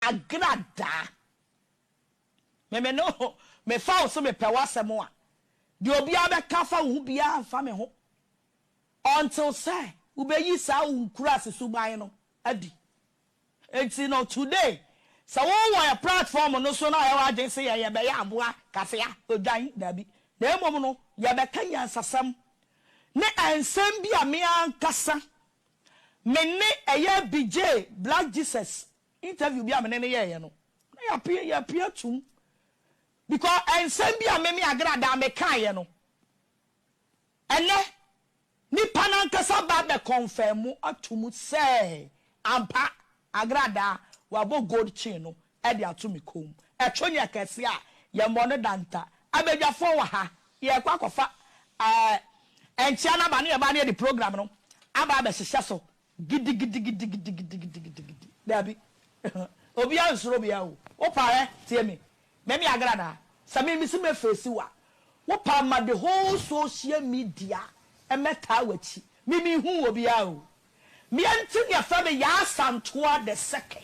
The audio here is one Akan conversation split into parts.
Agradaa. Me me no ho, me fa wo so me pɛ w'asɛm a, deɛ obiara bɛka afa wo ho biara mfa me ho until sɛ wo bɛ yi saa wo nkuraase suban no adi. Nti no today sɛ wo wɔ yɛ platform no so na ayɛ w'adwene sɛ yɛ yɛ bɛ yɛ aboa kafea odwan daabi na mmom no yɛ bɛ ka nyansasɛm ne nsɛm bi a me ankasa me ne ɛyɛ Bigye Black Jesus Interview bi a me ne no yɛeɛ no, na yɛapue yɛapue atom because nsɛm bi a me me Agradaa mekaeɛ no, ɛnnɛ nipa no ankasa ba abɛ kɔnfɛɛmo ato mu sɛ ampa Agradaa wabɔ gold chain no de ato me kɔn mu. Ɛto nyɛ kɛseɛ a, yɛmmɔ no danta. Abadwafoɔ wɔ ha, yɛrekɔ akɔfa ɛɛ nkyea no aba na yɛba na yɛde program no aba abɛhyehyɛ so Gidigidigidigidigidigidigidi. Dabi. Obiara nsuro me a o. Wo paa ɛ, tie me. Me me agradaa. Sɛ me mesi mɛ face wo a, wo paa ma the whole social media ɛmɛ taa w'akyi. Me me hu obiara o. Meɛ nti ne ɛfrɛ me Yaa Santoa the second.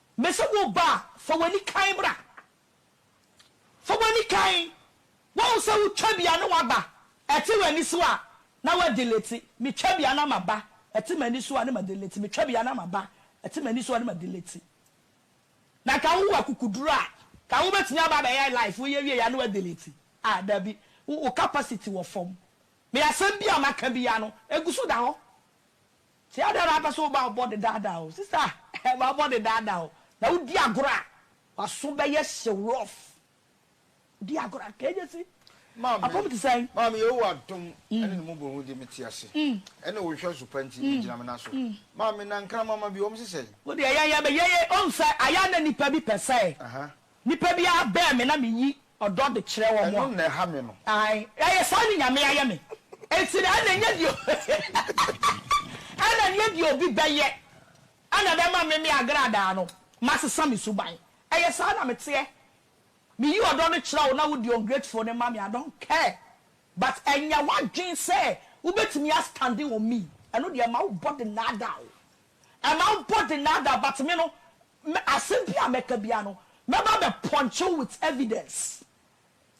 Mese wo ba, fa w'ani kann bra. Fa w'ani kann. Woahu sɛ wo twabia ne w'aba ɛte w'ani so a, na w'adelete. Me twabia na m'aba ɛte m'ani so a, ne m'adelete. Me twabia na m'aba ɛte m'ani so a, ne m'adelete. Na nka wo wɔ akukuduro a, nka wo bɛtumi aba abɛyɛ live, wo yɛ wieɛ a, ne w'adelete. Ah, dabi. Wo capacity wɔ fam. Me asɛm biara a maka biara no, ɛgu so da hɔ. Sɛ adɛn na wopɛ sɛ woma wo bɔne daadaa wo? Sista, ma wo bɔne daadaa wo, na wodi agorɔ a, w'aso bɛyɛ hyew, rough. Wodi agorɔ a, nka enya si. Maame, Apam te sɛn? Maame, Yehowa adom ne ne mmɔborohunu nti mete ase. Ɛne wo nhwɛso pa nti migyina me nan so. Maame, na nkramama bi, wɔn se sɛn? Wo deɛ, yɛn yɛbɛyɛ yei. Woahu sɛ, ayɛ a na nnipa bi pɛ sɛ. Nipa biara bɛn me na me yi ɔdɔ de kyerɛ wɔn a. Ɛno na ɛha me no. Ae, ɛyɛ saa ne Nyame ayɛ me. Enti na ɛna nyɛ deɛ ɛna nyɛ deɛ obi bɛyɛ na ɛbɛma me me agradaa no masesa me suban. Ɛyɛ saa na meteɛ. Me yi ɔdɔ no kyerɛ wo na wo di ungrateful no ma me, I don't care. But ɛnyɛ w'adwene sɛ wobɛtumi a standing on me. Ɛno deɛ ɛma wo body naadaa wo. Ɛma wo body naadaa but me no Me asem biaa mɛka biaa no mɛba abɛpɔnkye wo with evidence.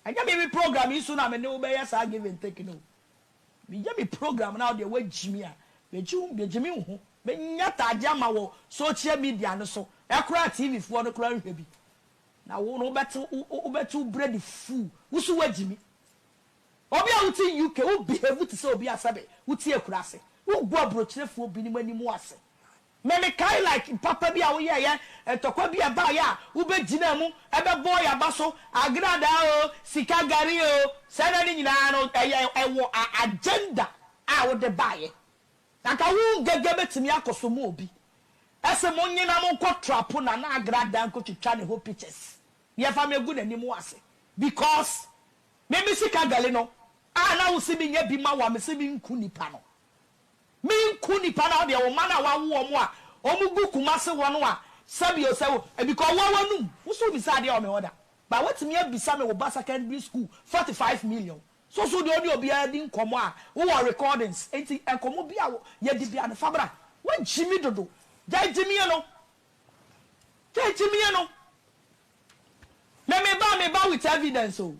Ɛnyɛ me me program yi so na me ne wo bɛyɛ saa give and take no o. Meyɛ me program na wo deɛ woagyi me a, megye wo megye me ho. Menya ataadeɛ ama wɔ social media no so. Ɛkoraa TV foɔ no koraa nhwɛ bi. Na wo no wobɛte wobɛte wo brɛ de fuu. Wo so woagyi me. Obi a wote UK wo behave te sɛ obi a sɛbe wote Akurase. Wogu aburokyerɛfoɔ binom anim ase. Me mekae like papa bi a woyɛeɛ, ntɔkwa bi a ɛbaeɛ a wobɛgyinaa mu bɛbɔɔ yɛn aba so, agradaa oo, sika gari oo, saa nneɛma no nyinaa no, ɛyɛ ɛwɔ a agenda a wode baeɛ. Anka wo ngɛgɛ bɛtumi akɔsom obi. Ɛse monye na monkɔ trapo Nana Agradaa nkɔtwitwa ne ho pictures na yɛfa me agu n'anim ase because me me sika gari no a na wose menyɛ bi ma wo a mese menku nipa no. Menku nnipa no wodeɛ wo mma no a wawo wɔn a wɔn gu kumase hɔ no a sɛbio sɛ wo because woa wanum woso womisa adeɛ wɔ me hɔ da but watumi abisa me wo ba secondary school forty five million so so deɛ ɔne obiara di nkɔmɔ a wowɔ recordings nti nkɔmɔ bi a yɛdi bia no fabra wagyimi dodo gyae gyimie no gyae gyimie no me meba meba with evidence o.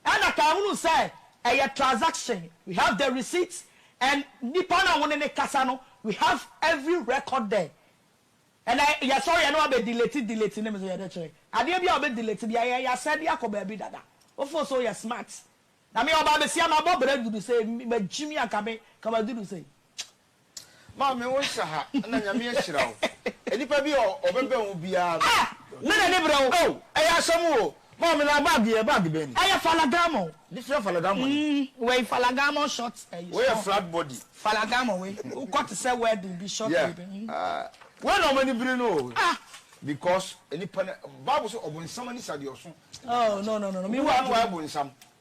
Ɛna kaa hunu sɛ ɛyɛ transaction we have the receipt and nipa na wone ne kasa no we have every record there ɛna yɛ sɔre ɛna wabɛ delete delete ne me so yɛde kyerɛ adeɛ bia ɔbɛ delete bia yɛ ya sɛde akɔ baabi dada wo fo so yɛ smart na me ɔbaa bɛsia mabɔ bra dudu sɛ magyimi anka me ka madudu sɛ Maame wo nhyɛ ha na nyame ahyira wo nipa bi a ɔbɛbɛn wo biaa no. Ah! Me na ni brɛ wo. Oh! Ɛyɛ asɛm o. Maame na bag yi yɛ bag bɛn ni? Ɛyɛ Falagamɔ. Bi fia Falagamɔ ni. Mm, wei Falagamɔ short eh, short. Wei yɛ flat body. Falagamɔ wei, wo kɔ te sɛ wedding bi short yeah. baby. Mm. Ah! Wei na ɔmani biri no o. Ah! Because nipa na, Bible sɛ ɔbonsam ani sa deɛ ɔso. Oh, no, no, no, no. Me wa no. Wo wa no wa yɛ bonsam.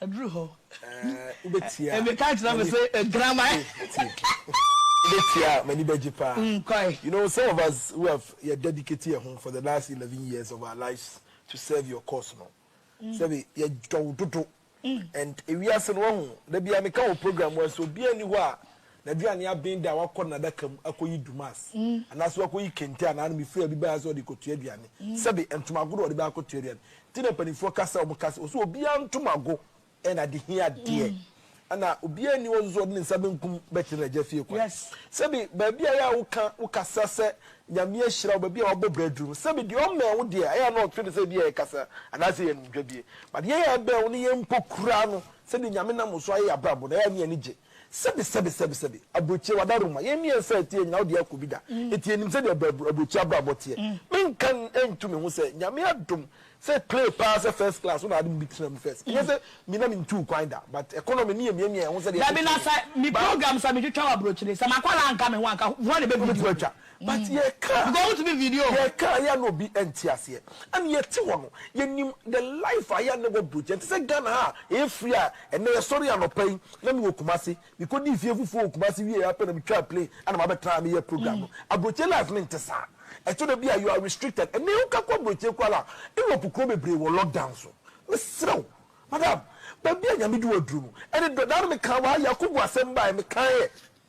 Aduru hɔ. Wobetia. Meka kyerɛ me se agyinaman. Wobetia a m'ani bɛgye paa. Kwae. You know some of us who have yɛ dedicate yɛn ho for the last eleven years of our lives to serve your cause no, sɛbe yɛdɔ wo dodo and ewiase no wahu, da biara meka wɔ program wɔ ha sɛ obiara nni hɔ a N'aduane aben dɛ a wakɔ n'adaka mu akɔyi Dumas anaasɛ wakɔyi kente anaa no mefiri a obi baeɛ sɛ ɔde rekɔtua aduane. Sɛbe, ntoma ago na wɔde bɛyɛ akɔtua aduane. Nti na mpanimfoɔ ka sɛ wɔka sɛ ɔsɛ obiara ntoma ago yɛ n'adehia adeɛ. Ɛna obiara nni hɔ nso sɛ ɔde ne nsa benkum bɛkyerɛ n'agya fie kwan. Sɛbe, baabi a ɛyɛ a woka wo kasa sɛ Nyame ahyira wo, baabi a wabɔ bra aduru no, sɛbe deɛ ɔmmɛn wo deɛ a, ɛyɛ a na ɔtwe no sɛ ebia ɛyɛ kasa anaasɛ ɛyɛ animdwadie. But yɛn a yɛbɛn wo no, yɛn mpo kura no sɛdeɛ Nyame nam wo so ayɛ yɛn abrabɔ no, ɛyɛ a ne yɛn ani gye. Sɛbi sɛbi sɛbi sɛbi Aburokyie wada roma yɛn mmiɛnsa ɛteɛ nyinaa wode akɔ bi da ɛti ɛnim sɛdeɛ aburokyie abrabɔ teɛ menka ntu me ho sɛ Nyame adom sɛ play paa sɛ first class wo na ade me bi tena mu first ɛnyɛ sɛ me na mentuu kwan da but economy ne yɛ miamia yɛn ho sɛdeɛ ɛteɛ Dabi na sɛ me program sɛ metwitwa wɔ aburokyire sɛ makwadaa anka me ho anka hwan na ɛbɛvideo me. But yɛ ka a yɛ ka a yɛ a na obi nte aseɛ ɛna yɛ te hɔ no yɛ nim the life a yɛ a na ɛwɔ brogya ɛnte sɛ Ghana ha a yɛ firi a ɛnɛ yɛ sɔre anɔpa yi na me wɔ Kumasi me kɔ dii fie fufuo wɔ Kumasi wie ara pɛ na me twaa plane ɛna ma bɛ tra ha me yɛ program no abrogya life no nte saa ɛtɔ da bi a you are restricted ɛnɛ wo ka kɔ abrogya kura la Europe kuro bebree wɔ lock down so me serɛ wo madam baabi a Nyame de wo aduru no ɛne dɔ daa na me ka wɔ ha yɛ akɔ gu asɛm baɛ me ka yɛ.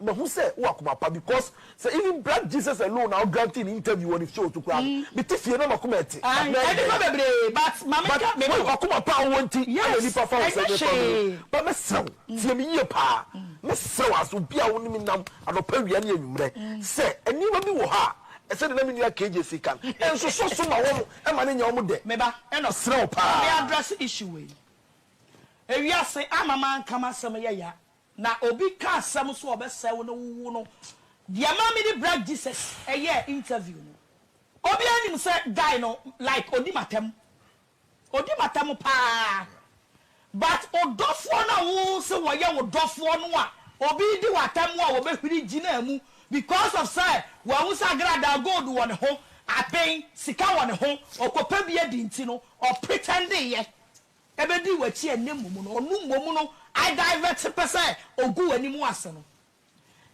Mahu sɛ wowɔ akoma pa because sɛ even black Jesus alone na wo grantee no interview wɔ ne show so koraa no mete fie na makoma ɛte but na ɛyɛ dɛn but w'akoma pa a wowɔ nti ɛna nipa fa wo sɛ me fa me ba mɛsrɛ wo tie me yie paa mɛsrɛ wo as obi a wo ne me nam anɔpa awia ne anwummerɛ sɛ nneɛma bi wɔ hɔ a sɛdeɛ na me nua KJC ka no nsosɔ so ma wɔn ɛma no nyɛ wɔn dɛ mɛsrɛ wo paa. Na obi ka asɛm so a ɔbɛsɛe wo na wowu no deɛ ɛma mede Black Jesus yɛɛ interview no. Obiara nim sɛ guy no like ɔdi m'atɛm. Ɔdi m'atɛm paa but wo dɔfoɔ no a wo se wɔyɛ wo dɔfoɔ no a obi redi wo atɛm a wɔbɛhuri gyinaa mu because of sɛ wahu sɛ agradaa gold wɔ ne ho, aben, sika wɔ ne ho, ɔkɔpɛ bi adi nti no ɔpretɛndeeɛ. Ebedi w'akyi ɛnnɛ mmom no, ɔno mmom no I divert pɛ sɛ ogu w'anim ase no.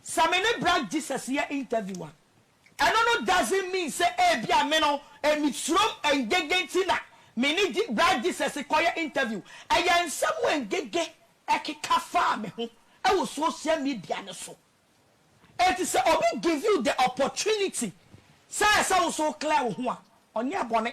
Sɛ me ne Bra Jesus yɛ interview a, ɛno no doesn't mean sɛ ebia me no misurom ɛngege nti na me ne Bra Jesus kɔyɛ interview. Ɛyɛ nsɛm a ngege ɛkeka faa me ho wɔ social media no so. Enti sɛ obi give you the opportunity sɛ ɛsɛ wo sɛ wo clear wo ho a, ɔnyɛɛ bɔne.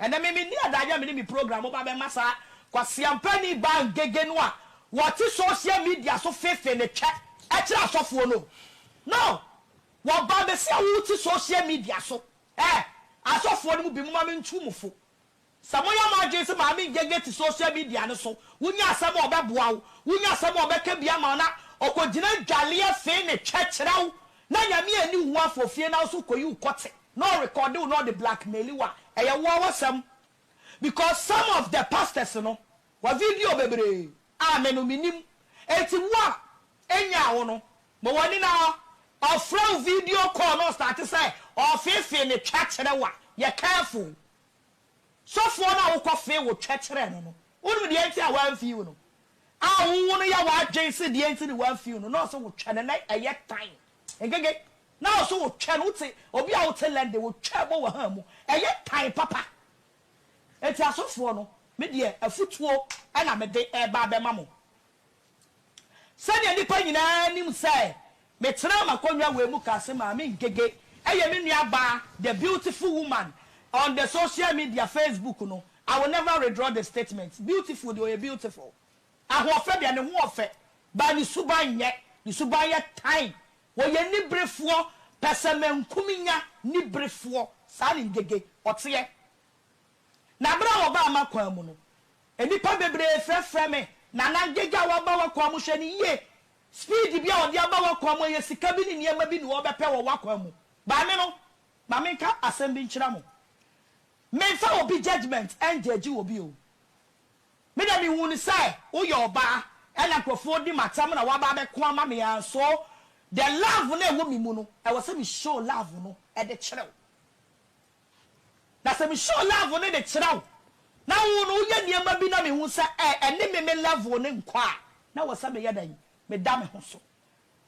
Ɛnɛ me menni adagyeɛ a me ne me program moba bɛma saa kwaseampani baa ngege no a wɔte social media so feefee ne twɛ kyerɛ asɔfoɔ no o. No! Wɔba bɛsi a wote social media so eh! Asɔfoɔ no mu binom ma mentu mo fo. Sɛ moyɛ mo adwene sɛ maame ngege te social media no so, wonya asɛm a ɔbɛboa wo, wonya asɛm a ɔbɛka bi ama wo na ɔkɔgyina dwaleɛ fee ne twɛ kyerɛ wo, Na Nyame anni wo afɔ fie na wo so kɔyi wo kɔte na ɔrekɔde wo na ɔde blackmaili wo a, ɛyɛ woa w'asɛm because some of the pastors no wɔ video bebree a me no menim enti wo a ɛnyaa wo no ma w'ani na ɔfrɛ wo video call na ɔstarte sɛ ɔfeefee ne twa kyerɛ wo a yɛ careful Sɔfoɔ no a wokɔfee wo twɛ kyerɛɛ no no, wonim deɛ nti a wamfii wo no? A wowo no yɛ w'adwene sɛ deɛ nti ne wamfii wo no, na ɔse wotwɛ no, na ɛyɛ tan. Nkeke, na ɔse wotwɛ no, wote, obi a wote London, wotwa bɔ w'aha mu, ɛyɛ tan papa. Enti asɔfoɔ no, me deɛ afutuo na mede reba abɛma mo. Sɛnea nnipa nyinaa nim sɛ metenaa m'akonnwa wei mu kaa sɛ Maame Ngege yɛ me nuabaa the beautiful woman on the social media Facebook no, I will never redraw the statement. Beautiful deɛ ɔyɛ beautiful. Ahoɔfɛ deɛ ne ho ɔfɛ but ne suban nyɛ. Ne suban yɛ tan. Ɔyɛ niberefoɔ, pɛsɛmenkominya niberefoɔ. Saa ne Ngege ɔteɛ. Na bere a wɔbaa m'akwan mu no, nnipa bebree frɛfrɛɛ me, Nana, Ngega a waba w'akwan mu, hwɛ no yie! Speed bi a ɔde aba w'akwan mu, ɛyɛ sika bi ne nneɛma bi na ɔrebɛpɛ wɔ w'akwan mu. Maame no, ma menka asɛm bi nkyerɛ mo. Memfa obi judgement ngyɛɛgye obi o. Me deɛ mehuu no sɛ woyɛ ɔbaa ɛna nkurɔfoɔ redi m'atɛm na woaba abɛko ama me ara nso the love no a ɛwɔ me mu no, ɛwɔ sɛ me show love no de kyerɛ wo. Na sɛ me show level no de kyerɛ wo na wo no woyɛ nneɛma bi na me hu sɛ ɛɛ ɛne me me level no nkɔ a na wɔ sɛ me yɛ dɛn? Me da me ho so.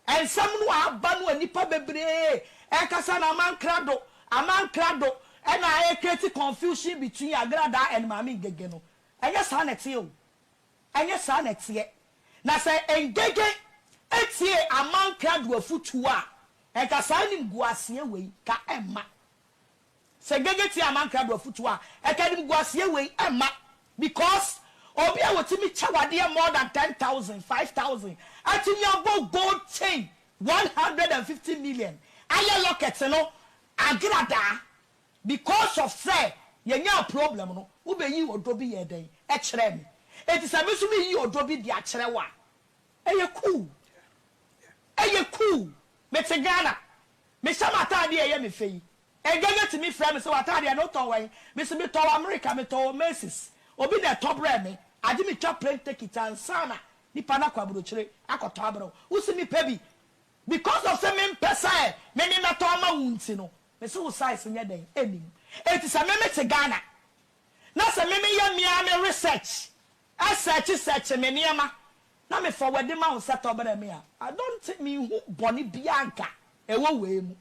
Nsɛm no a aba no a nnipa bebree ɛkasa no aman krado aman krado ɛna ɛ create confusion between Agradaa and Maame Ngege no ɛnyɛ saa na ɛteɛ o ɛnyɛ saa na ɛteɛ na sɛ Ngege ɛtiee aman krado afutuo a nka saa animguaseɛ wei ka ɛmma Sɛ Gege tie Aman Krado afutuo a, ɛka animguaseɛ wei mma because obi a ɔtumi kyɛ wo adeɛ more than ten thousand, five thousand, atumi abɔ gold chain one hundred and fifty million, ayɛ locket no agradaa because of sɛ yɛnyaa problem no, wobɛyii ɔdɔ bi yɛɛ dɛn? Ɛkyerɛɛ me. Enti sɛ me nso meyi ɔdɔ bi de akyerɛ wo a, ɛyɛ cool. Ɛyɛ cool. Mete Ghana. Mehyɛ m'atade a ɛyɛ me fɛ yi. Agagya tumi frɛ me sɛ, W'atade ɛno wotɔɔ wɛn? Me so, Metɔɔ wɔ Amerika, metɔɔ wɔ Macy's. Obi na ɛtɔ brɛɛ me. Agye metwa plane tekit ansa na nipa no akɔ aburokyire akɔtɔ abrɛ wo. Wo se mepɛ bi. Because of sɛ mempɛ sɛ me me mɛtɔ ama wo nti no, me se wo size nyɛ dɛn? Ɛnnim. Enti sɛ me mete Ghana na sɛ me meyɛ me ara me research Sɛɛkye sɛɛkye me nneɛma na me fɔwɛde ma wo sɛ tɔ brɛ me a, I don't think me nhu bɔne biaa anka ɛwɔ wei mu.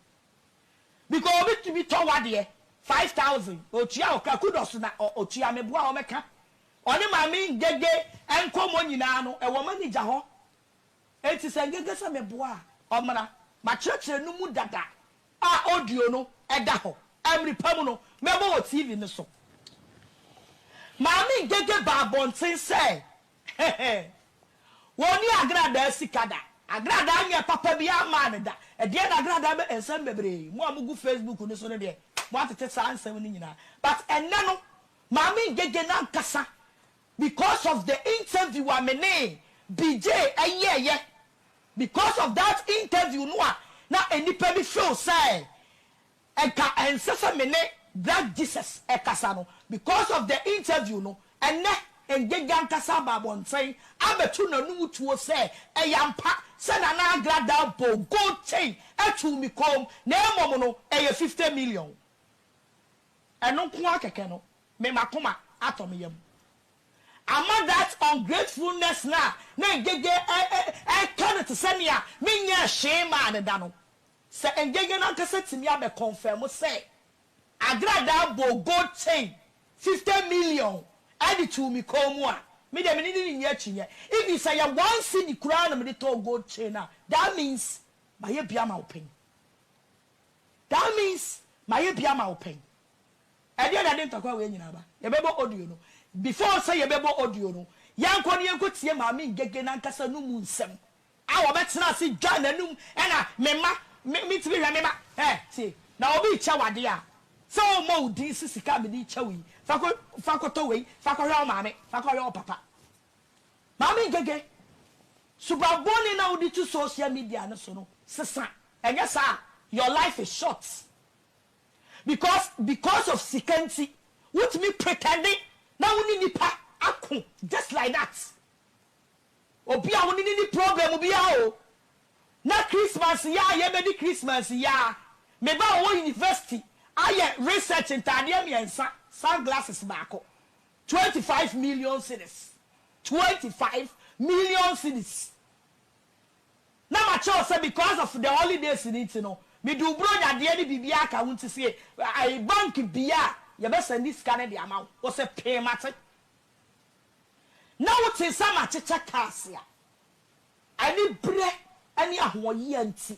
Because obi tumi tɔ w'adeɛ five thousand, ɔtua wo ka, kudos na ɔtua me boa ɔmɛka ɔne maame Ngege nkɔmmɔ nyinaa no ɛwɔ manager hɔ Enti sɛ ngenge sɛ meboa a, ɔmmra. M'akyerɛkyerɛ no mu dada a audio no da hɔ. Mmere pa mu no, mɛbɔ wɔ TV no so. Maame Ngege baa abɔnten sɛ, Hehe! Wonnii agradaa sika da. Agradaa nyɛ papa biara mmaa no da. Ɛdeɛn na agradaa bɛ? Nsɛm bebree. Mo a mogu Facebook no so no deɛ, moatete saa nsɛm no nyinaa. But ɛnnɛ no, Maame Ngege no ankasa Because of the interview a me ne Bigye yɛeɛ, because of that interview no a na nnipa bi feel sɛ nka ɛnsɛ sɛ me ne Black Jesus kasa no, because of the interview no, ɛnnɛ Ngega ankasa aba abɔnten abɛto n'anum tuo sɛ ɛyɛ ampa sɛ Nana Agradaa bɔɔ gold chain too me kɔn mu, na mmom no ɛyɛ fifty million. Ɛno nko ara kɛkɛ no me makoma atɔ me yam ama that ungratefulness no a na Ngege ɛɛtɔ no te sɛ nea menyɛɛ hwee mmaa no da no. Sɛ Ngege no ankasa tumi abɛ confirm sɛ Agradaa bɔɔ gold chain fifty million de too me kɔn mu a, me deɛ me ne no renni akyinnye. Even sɛ ɛyɛ one cedi koraa na mede tɔɔ gold chain a, that means mayɛ bi ama wo panyin. That means mayɛ bi ama wo pɛn. Ɛdeɛn na ɛde ntɔkwa wei nyinaa ba? Yɛbɛbɔ audio no. Before sɛ yɛbɛbɔ audio no, yɛnkɔ na yɛnkɔtie Maame Ngege no ankasa no mu nsɛm. A Ɔbɛtena ase dwa n'anum ɛna me mma, me, mentumi nhwɛ me mma. Hɛ, tie, na obi rekyɛ wo adeɛ a, sɛ ɔremmɔ wo din sɛ sika a mede rekyɛ wo yi, fa kɔ, fa kɔtɔ wei, fa kɔhwɛ wo maame, fa kɔhwɛ wo papa. Maame Ngege, suban bɔne no a wode tu social media no so no sesa, ɛnyɛ saa a your life is short because because of sika nti wotumi pretend na wo ne nnipa ako just like that. Obi a wo ne no nni problem biara o, na Christmas yi a yɛbɛdi Christmas yi ara, me ba a ɔwɔ university ayɛ research ntaadeɛ mmiɛnsa, sunglasses baako. Twenty five million cedis, twenty five million cedis, na ma kyerɛ wo sɛ because of the holidays no nti no me de wo bronya deɛ ne biribiara aka ho nti sɛ yɛ bank bia a yɛ bɛ sɛnde sika no de ama wo, wo sɛ pee mate, na wo tee sɛ ma kyekyɛ cars a. Anibere ne ahoɔyea nti,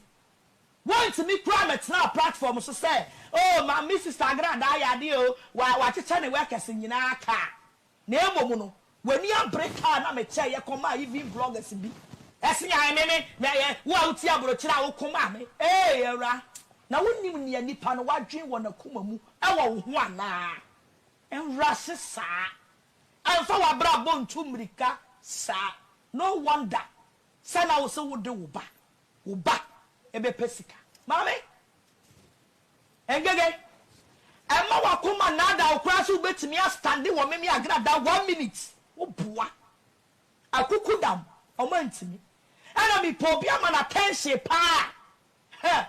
wɔantumi koraa mmɛtenaa platform so sɛ, Oh, ma me sista agradaa yɛ adeɛ oo, wa, wakyekyɛ ne workers nyinaa kaa. Na mmom no, w'ani abere kaa na mekyɛeɛ kɔmaa even bloggers bi. Ɛse ae me me, me yɛ, wo a wotie aborokyire a woko ma me. Eei awura, na wonim nea nnipa no wadwen wɔ n'akoma mu wɔ wo ho anaa? Nwura se saa. Ɛmfa w'abrabɔ ntu mmirika saa. No wonder sɛ na wo se wo de wo ba, wo ba bɛpɛ sika. Maame, Ngege, ɛmma w'akoma nnaadaa wo koraa sɛ wobɛtumi a stande wɔ Meme Agrada one minute. Wo boa. Akukudam, wɔn antumi. Ɛna me pɛ obi ama no attention paa. Heh,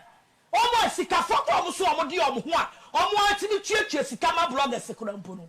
wɔn a sikafoɔ koraa wɔn se wɔn de wɔn ho a wɔn ara tumi tuatua sika ma bloggers koraa mpo no,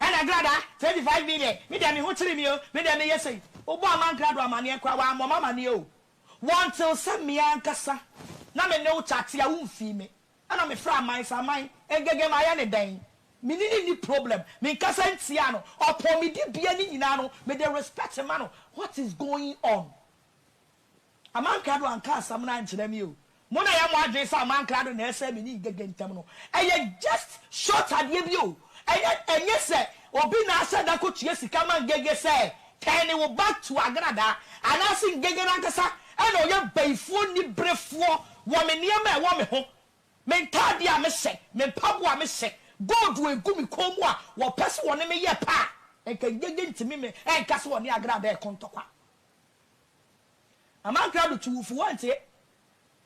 Ɛna Glada, 25 me deɛ, me deɛ me ho kyere me o, me deɛ meyɛ sei. Wobɔɔ ma Nkrado amaneɛ koraa, wammɔ me amaneɛ o. Wɔntee sɛ me ankasa na me ne wo kyate a womfii me. Ɛna mefrɛɛ Aman sɛ, Aman, Ngege mayɛ no dɛn? Me ne no nni problem. Menkasa ntia no. Ɔpɔn me dibea no nyinaa no, mede respect ma no. What is going on? Amankra do annka asɛm no annkyerɛ me o. Mo na yɛ mo adwen sɛ Amankra do na ɛsɛɛ me ne Igege ntam no. Ɛyɛ just short adeɛ bi o. Ɛnyɛ ɛnyɛ sɛ obi na ahyɛ da kɔtua sika ma Ngege sɛ tɛɛne wo back to Agradaa. Anaase Ngege no ankasa na ɔyɛ bayifoɔ niberefoɔ wɔ me nneɛma a ɛwɔ me ho, me ntaadeɛ a me hyɛ, me mpaboa a me hyɛ, gold a ɛgu me kɔn mu a wɔpɛ sɛ wɔne me yɛ pɛ a, nka Ngege ntumi me ɛnka sɛ ɔne Agradaa ɛko ntɔkwa. Amankra do to wo fo wɔnntse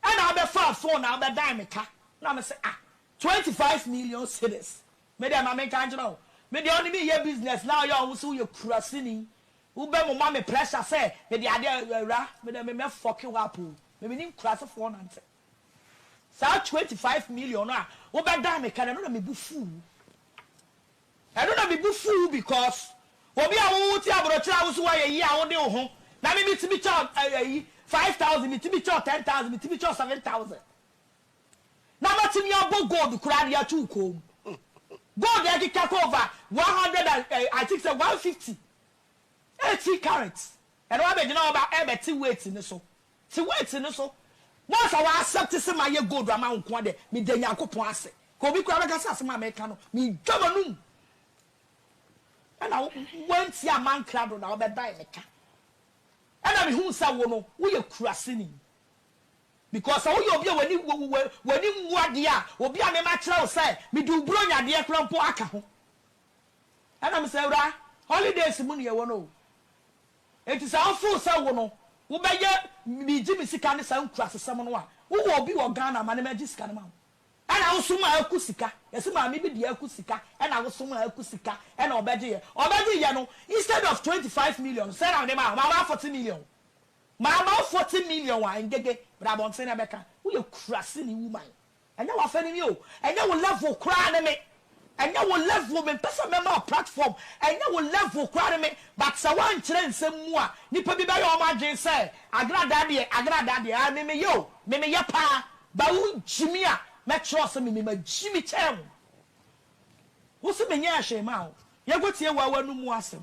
nna abɛfaa phone abɛdan me ka na me se ah twenty five million cedis me dɛ ma menka nkyerɛ wo me deɛ ɔne me yɛ business na ɔyɛ ɔho se woyɛ kuraseni wo bɛ moma me pressure sɛ mede adeɛ awura me dɛ me mɛ fɔke wo up o me menim kurasefoɔ nantse saa twenty five million no a wo bɛdan me ka no ɛno na me bo fuu wo. Ɛno na me bo fuw wo because obi a wo wo te abrokyere a wo se wo ayɛ yie a wo de wo ho na me me tumi kyɛ wo eh ayi five thousand me tumi kyɛ wo ten thousand me tumi kyɛ wo seven thousand na ma tumi abɔ gold koraa de ato wo kɔn mu gold ɛkeka kɔ over one hundred and eh I think sɛ one fifty eighteen carats ɛna wabɛgyina hɔ ba ɛbɛte weight ne so Te weight no so. Once a wa accept se mayɛ gold ama wo nko ara deɛ, meda Nyankopɔn ase. Ka obi koraa bɛka sɛ asem a meka no, medwa m'anum. Ɛna woantie amma nkrado na wobɛdan me ka. Ɛna mehuu sɛ wo no, woyɛ kuraseni. Because sɛ woyɛ obi a w'ani w'ani nwu adeɛ a, obi a mema kyerɛ wo sɛ mede wo Buronya adeɛ koraa mpo aka ho. Ɛna mese, Awuraa, holidays mu na yɛwɔ no o. Enti sɛ wofeel sɛ wo no wobɛyɛ megye me sika ne saa nkurasesɛm no a, wowɔ obi wɔ Ghana ma no mɛgye sika no ma wo. Ɛna wosom a aku sika, yɛse maame bi deɛ aku sika ɛna wosom a aku sika ɛna ɔbɛgye yɛ. Ɔbɛgye yɛ no instead of twenty five million no sɛn na mede maa wo? Mama wo forty million. Mama wo forty million a Ngege, bra abɔnten na bɛka. Woyɛ kuraseni woman. Ɛnyɛ w'afɛ no ni o, ɛnyɛ wo level koraa ne me, ɛnyɛ wo level, mempɛ sɛ mɛma wo platform, ɛnyɛ wo level koraa ne me, but sɛ woankyerɛ nsɛm mu a, nnipa bi bɛyɛ wɔn adwene sɛ Agradaa deɛ, Agradaa deɛ, ae me meyɛ o, me meyɛ paa, but wogye me a, mɛkyerɛ wo sɛ me me magye me kyɛn wo. Wose menyɛɛ hwee maa wo, yɛnkɔtie wo ara w'anomu asɛm.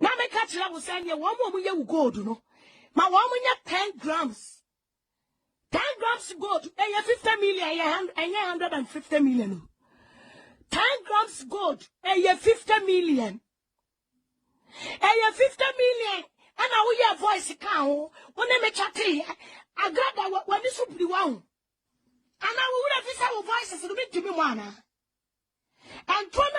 na meka kyerɛ wo sɛ neɛ wɔn a wɔyɛ wo gold no ma wɔn nyɛ ten grams ten grams gold ɛyɛ fifty million ɛyɛ hundred and fifty million o ten grams gold ɛyɛ fifty million ɛyɛ fifty million ɛna woyɛ voice ka ho wo ne me kyɛteeɛ agrada w'ani so biri wa ho anaa wo wura fi sɛ wo voices no mentumi mu anaa ɛntorɔ no